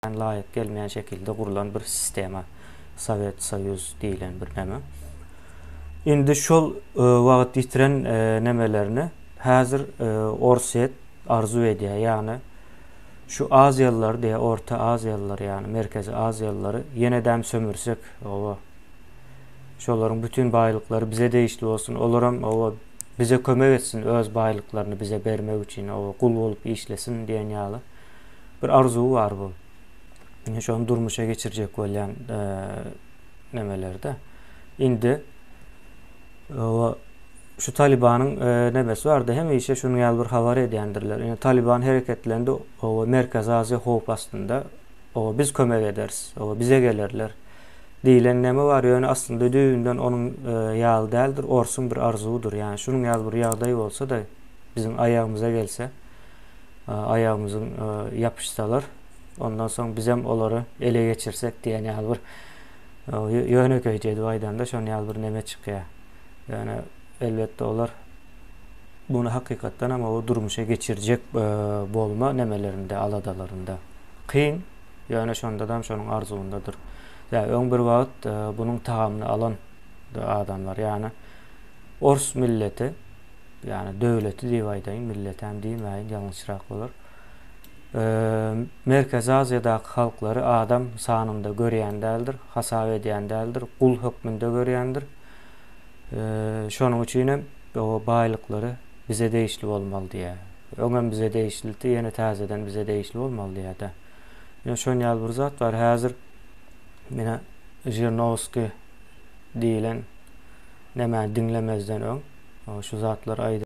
Ýan laýyk gelmeýän şekilde gurlan bir sistema Sowet Soýuz diýilen bir neme. Indi şol e, wagt ýitiren e, nemelerini häzir e, Orsýet arzuw edýär. Ýagny şu aziýalylar diýä orta aziýalylar ýagny merkezi aziýalylary ýene däm sömürsek owa şolaryň bütün baýlyklary bize degişli bolsun olar hem owa bize kömek etsin öz baýlyklaryny bize bermek üçin owa gul bolup işlesin diýen ýaly Bir arzuw bar bu. Ine şony durmuşa geçirjek bolýan nemelerde. Indi o şu Talibanyň nebesi bardy. Hemişe şunuň ýaly bir habar edýändirler. Ine Taliban hereketlendi. O Merkezi Aziýa howp astynda. O biz kömek ederis. O bize gelerler. Diýlen neme bar, ýöne aslynda düýbünden onuň e, ýaly däldir, orsuň bir arzuwudyr. Ýani şunuň ýaly bir ýagdaý bolsa-da, biziň aýagymyza gelse, aýagymyzyň ýapyşsalar, ondan soň bizem olary ele geçirsek diýen ýaly bir ýönekeýje edip aýdanda şon ýaly bir neme çykýar. Ýöne elbetde olar muny hakykatdan hem o durmuşa geçirjek e, bolma nemelerinde, aladalarynda. Kyn, ýöne şonda da şonuň arzuwyndadyr. Ýa öň bir wagt e, bunuň tagamyny alan adamlar, ýany ors milleti ýagny döwleti diýip aýdaýyn, milletäm diýmäýin, ýalňyşrak bolar. Merkezi Aziýadaky halklary adam sanynda görýän däldir, hasap edýän däldir, gul hökmünde görýändir. Şonuň üçin hem o baýlyklary bize degişli bolmaly diýýär. Öňem bize degişlidi, ýene täzeden bize degişli bolmaly diýýär-de. Ýöne şon ýaly bir zat bar, häzir menä Žirnowskiý diýilen nämäni diňlemezden öň şu zatlary aýdýar.